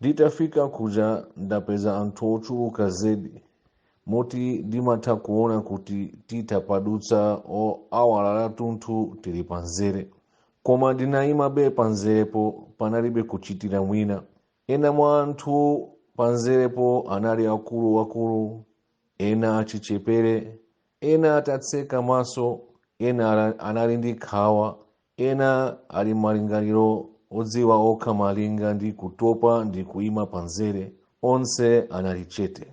Nditafika kuja ndapeza anthu ochuluka zedi moti ndimatha kuona kuti titapadutsa awala lathunthu tili panzere koma ndinayimabe panzerepo panalibe kuchitira mwina ena mwa anthu panzerepo anali akuluakulu ena achichepere ena atatseka maso ena ala- anali ndi nkhawa Ena ali m'malingaliro odziwa okha malinga ndi kutopa ndi kuima panzere. Onse anali chete.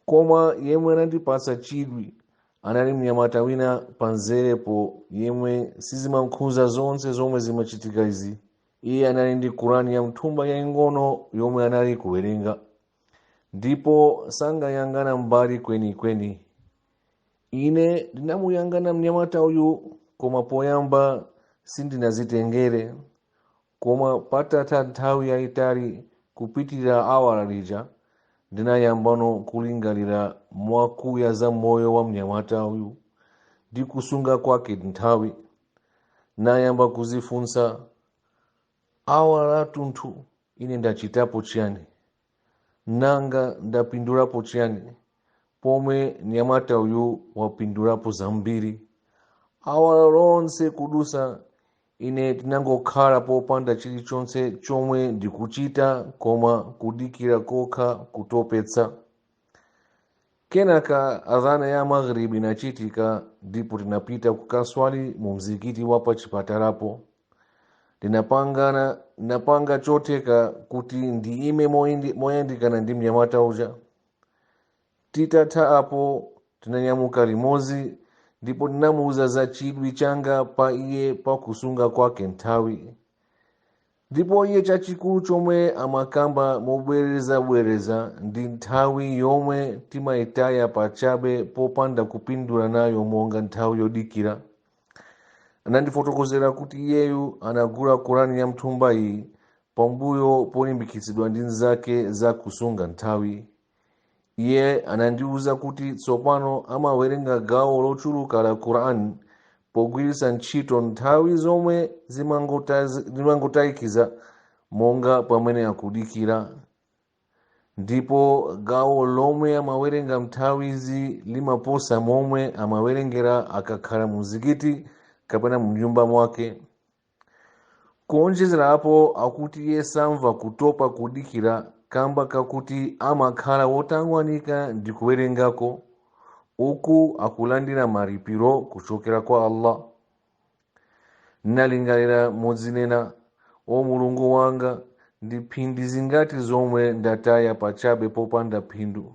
Koma yemwe anandipatsa chidwi anali mnyamata wina panzerepo yemwe sizimamkhuza zonse zomwe zimachitika izi. Iye anali ndi Kurani ya mthumba yaing'ono yomwe anali kuwerenga ndipo sankayang'ana mbali kwenikweni. ine ndinamuyang'ana mnyamata uyu koma poyamba sindinazitengere koma patatha nthawi yayitali kupitirira awala lija ndinayambano kulingalira mwakuya za moyo wa mnyamata uyu ndi kusunga kwake nthawi nayamba kuzifunsa awala lathunthu ine ndachitapo chiyani nanga ndapindulapo chiyani pomwe mnyamata uyu wapindulapo zambiri awala lonse kudutsa ine ndinangokhala popanda chilichonse chomwe ndikuchita koma kudikira kokha kotopetsa kenaka adhana ya maghribi inachitika ndipo tinapita kukaswali mu mzikiti wa pachipatalapo ndinapangana ndinapanga chotheka kuti ndiime moyindi- moyandikana ndi mnyamata uja titatha apo tinanyamuka limodzi ndipo ndinamuuza za chidwi changa pa iye pa kusunga kwake nthawi ndipo iye chachikulu chomwe amakamba mobwerezabwereza ndi nthawi yomwe timayitaya pachabe popanda kupindula nayo monga nthawi yodikira anandifotokozera kuti iyeyu anagula kurani ya mthumba iyi pambuyo polimbikitsidwa ndi nzake za kusunga nthawi iye anandiwuza kuti tsopano amawerenga gawo lochuluka la quran pogwiritsa ntchito nthawi zomwe zimangotazi- zimangotayikazi monga pamene akudikira ndipo gawo lomwe amawerenga mnthawizi limaposa momwe amawerengera akakhala mu mzikiti kapena mu nyumba mwake kuonjezerapo akuti iye samva kutopa kudikira kamba kakuti amakhala wotangwanika ndi kuwerengako uku akulandira malipiro kuchokera kwa allah ndinalingalira modzinena o mulungu wanga ndi mphindi zingati zomwe ndataya pachabe popanda phindu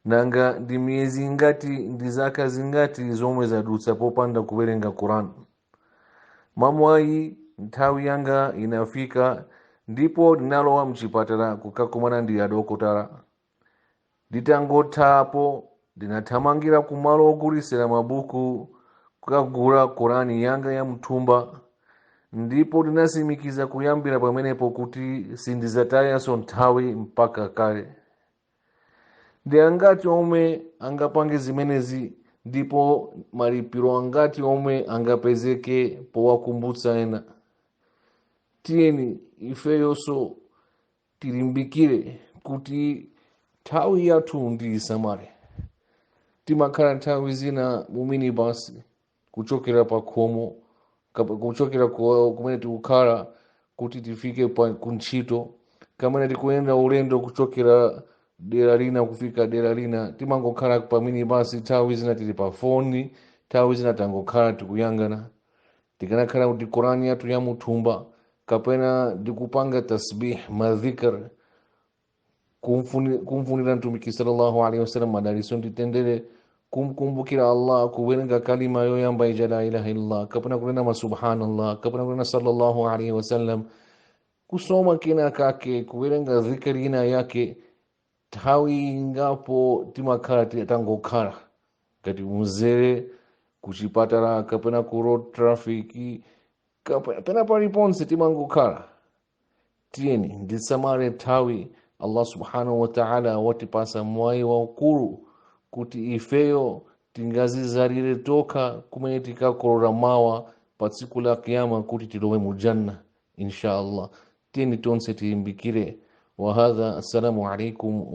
nanga ndi miyezi ingati ndi zaka zingati zomwe zadutsa popanda kuwerenga quran mwamwayi nthawi yanga inafika ndipo ndinalowa mchipatala kukakumana ndi adokotala nditangothapo ndinathamangira ku malo ogulitsira mabuku kukagula korani yanga ya mthumba ndipo ndinatsimikiza kuyambira pamenepo kuti sindizatayanso nthawi mpaka kale ndi angati omwe angapange zimenezi ndipo malipiro angati omwe angapezeke powakumbutsa ena tiyeni ifeyonso tilimbikire kuti nthawi yathu tiisamale timakhala nthawi zina mu minibasi kuchokera pa khomo kap- kuchokera ku- kumene tikukhala kuti tifike pa kuntchito kapena tikuyenda ulendo kuchokera dera lina kufika dera lina timangokhala pa minibasi nthawi zina tili pa foni nthawi zina tangokhala tikuyangana tikanakhala kuti korani yathu yamuthumba kapena tikupanga tasbih madhikr kumfuni- kumfunira mtumiki sallallahu alaihi wasallam madaliso ndi mtendere kumkumbukira allah kuwerenga kalima yoyamba ija la ilaha illallah kapena kunena subhanallah kapena kunena sallallahu alaihi wasallam kusoma kena kake kuwerenga dhikri ina yake nthawi ingapo timakhala ti- tangokhala ngati mu mzere kuchipatala kapena ku road traffic kapena pena paliponse timangokhala tiyeni tisamale nthawi allah subhanahu wataala watipasa mwayi waukulu kuti ifeyo tingazizalire tokha zimene tikakolole mawa pa tsiku la kiyama kuti tilowe mu janna insha allah tiyeni tonse tilimbikire wahadha assalamu alaikum